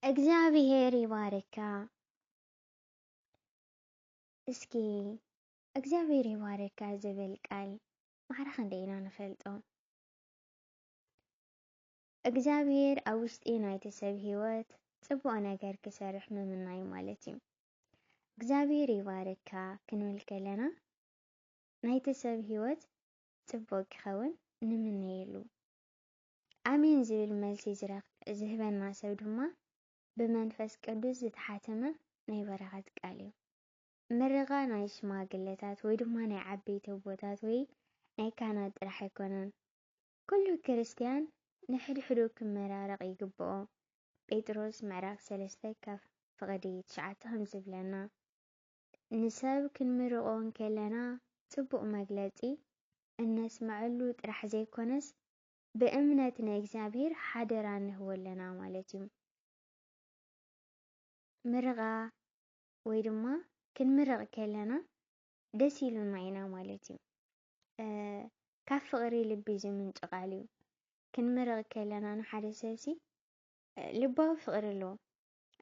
እግዚኣብሔር ይባርካ። እስኪ እግዚኣብሔር ይባርካ ዝብል ቃል ማዕረ ክንደይ ኢና ንፈልጦ? እግዚኣብሔር ኣብ ውሽጢ ናይቲ ሰብ ህይወት ጽቡቕ ነገር ክሰርሕ ምምናይ ማለት እዩ። እግዚኣብሔር ይባርካ ክንብል ከለና ናይቲ ሰብ ህይወት ጽቡቕ ክኸውን ንምነየሉ። ኣሜን ዝብል መልሲ ዝህበና ሰብ ድማ ብመንፈስ ቅዱስ ዝተሓተመ ናይ በረኸት ቃል እዩ። ምርቓ ናይ ሽማግለታት ወይ ድማ ናይ ዓበይቲ ኣቦታት ወይ ናይ ካህናት ጥራሕ ኣይኮነን። ኩሉ ክርስትያን ንሕድሕዱ ክመራረቕ ይግብኦ። ጴጥሮስ ምዕራፍ ሰለስተ ካብ ፍቕዲ ትሽዓተ ከምዝብለና። ንሰብ ክንምርቖ እንከለና ጽቡቕ መግለጺ እነስምዐሉ ጥራሕ ዘይኮነስ ብእምነት ንእግዚኣብሔር ሓደራ ንህቦ ኣለና ማለት እዩ። ምርቓ ወይ ድማ ክንምረቕ ከለና ደስ ኢሉና ኢና ማለት እዩ። ካብ ፍቕሪ ልቢ ዝምንጩ ቃል እዩ። ክንምረቕ ከለና ንሓደ ሰብሲ ልባዊ ፍቕሪ ኣሎ።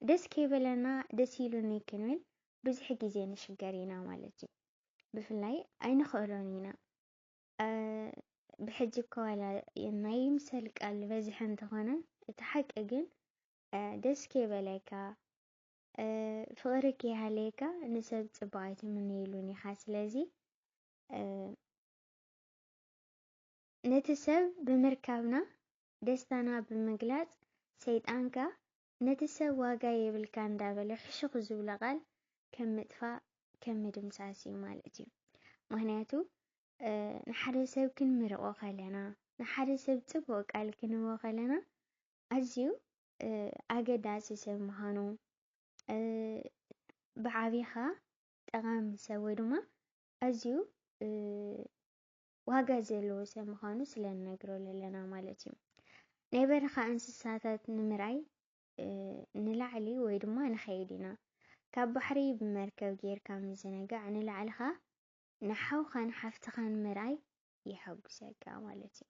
ደስ ከይበለና ደስ ኢሉኒ ክንብል ብዙሕ ግዜ ንሽገር ኢና ማለት እዩ። ብፍላይ ኣይንኽእሎን ኢና ብሕጂ እኮ ዋላ ናይ ይምሰል ቃል በዝሐ እንተኾነ እቲ ሓቂ ግን ደስ ከይበለካ ፍቕሪ ከይሃለየካ ንሰብ ፅቡቕ ኣይትምነየሉን ኢኻ። ስለዚ ነቲ ሰብ ብምርካብና ደስታና ብምግላፅ ሰይጣንካ ነቲ ሰብ ዋጋ የብልካ እንዳበለ ሕሹኽ ዝብሎ ቃል ከም ምጥፋእ ከም ምድምሳስ እዩ ማለት እዩ ምኽንያቱ ንሓደ ሰብ ክንምርቆ ከለና ንሓደ ሰብ ጽቡቕ ቃል ክንህቦ ከለና ኣዝዩ ኣገዳሲ ሰብ ምዃኑ ብዓቢኻ ጠቓሚ ሰብ ወይ ድማ ኣዝዩ ዋጋ ዘለዎ ሰብ ምዃኑ ስለ ንነግሮ ኣለና ማለት እዩ። ናይ በረኻ እንስሳታት ንምርኣይ ንላዕሊ ወይ ድማ ንኸይድ ኢና። ካብ ባሕሪ ብመርከብ ጌርካ ምዝንጋዕ ንላዕሊ ኸኣ ንሓውኻን ሓፍትኻን ምርኣይ የሐጉሰካ ማለት እዩ።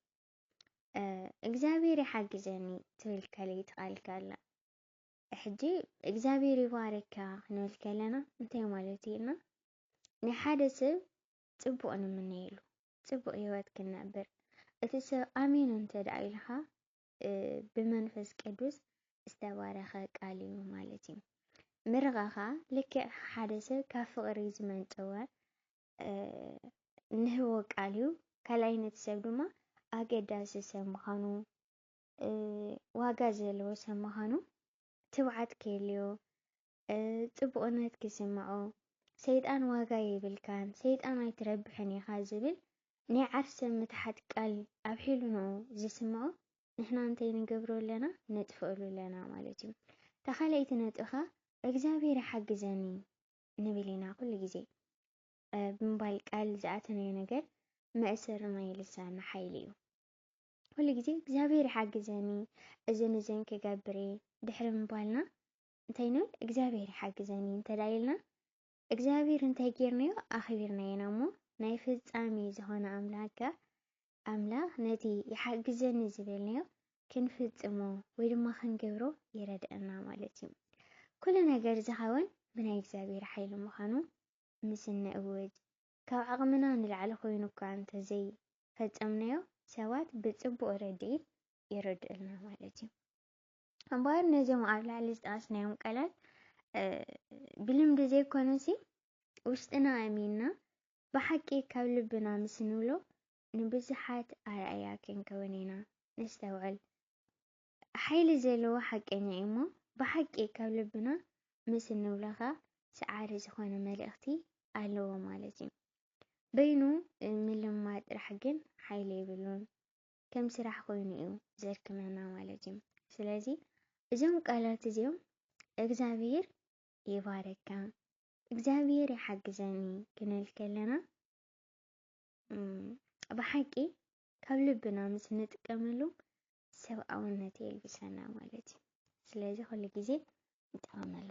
እግዚኣብሔር ይሓግዘኒ ትብል ከለይቲ ቃልካ ኣላ። ሕጂ እግዚኣብሔር ይባርካ ክንብል ከለና እንታይ ማለት እዩና? ናይ ሓደ ሰብ ጽቡቕ ንምነየሉ፣ ጽቡቕ ህይወት ክንነብር እቲ ሰብ ኣሜን እንተደኣ ኢልኻ ብመንፈስ ቅዱስ ዝተባረኸ ቃል እዩ ማለት እዩ። ምርቓ ኸኣ ልክዕ ሓደ ሰብ ካብ ፍቕሪ ዝመንጨወ ንህቦ ቃል እዩ። ካልኣይ ነቲ ሰብ ድማ ኣገዳሲ ሰብ ምዃኑ ዋጋ ዘለዎ ሰብ ምዃኑ ትብዓት ክህልዮ ጽቡቕነት ክስምዖ፣ ሰይጣን ዋጋ የብልካን፣ ሰይጣን ኣይትረብሕን ኢኻ ዝብል ናይ ዓርሰ ምትሓት ቃል ኣብ ሒልንኡ ዝስምዖ ንሕና እንታይ ንገብሮ ኣለና ነጥፍእሉ ኣለና ማለት እዩ። እታ ካልኣይቲ ነጥቢ ከኣ እግዚኣብሔር ይሓግዘኒ ንብል ኢና ኩሉ ግዜ ብምባል ቃል ዝኣተናዮ ነገር መእሰሪ ናይ ልሳና ሓይሊ እዩ። ኩሉ ግዜ እግዚኣብሔር ይሓግዘኒ እዝን እዝን ክገብር እየ ድሕሪ ምባልና እንታይ ንብል እግዚኣብሔር ይሓግዘኒ እንተ ኢልና እግዚኣብሔር እንታይ ጌርናዮ ኣኽቢርናዮ ኢና እሞ ናይ ፍጻሜ ዝኾነ ኣምላክ ከኣ ኣምላኽ ነቲ ይሓግዘኒ ዝበልናዮ ክንፍጽሞ ወይ ድማ ክንገብሮ ይረድአና ማለት እዩ። ኩሉ ነገር ዝኸውን ብናይ እግዚኣብሔር ሓይሊ ምዃኑ ምስ እንእውጅ ካብ ዓቕምና ንላዕሊ ኮይኑ እኳ እንተዘይ ፈጸምናዮ ሰባት ብጽቡቕ ረድኢት ይረድኡልና ማለት እዩ። እምበኣር ነዚኦም ኣብ ላዕሊ ዝጠቐስናዮም ቃላት ብልምዲ ዘይኮነሲ ውሽጥና ኣሚንና ብሓቂ ካብ ልብና ምስ ንብሎ ንብዙሓት ኣርኣያ ክንከውን ኢና። ነስተውዕል። ሓይሊ ዘለዎ ሓቀኛ እዩ እሞ ብሓቂ ካብ ልብና ምስ እንብሎ ኸኣ ሰዓሪ ዝኾነ መልእኽቲ ኣለዎ ማለት እዩ። በይኑ ምልማ ጥራሕ ግን ሓይሊ የብሉን። ከም ስራሕ ኮይኑ እዩ ዘድክመና ማለት እዩ። ስለዚ እዞም ቃላት እዚኦም እግዛብሄር ይባረካ እግዛብሄር ይሓግዘኒ ክንብል ከለና ብሓቂ ካብ ልብና ምስ ንጥቀመሉ ሰብኣውነት የልብሰና ማለት እዩ። ስለዚ ኩሉ ግዜ ንጠቐመሉ።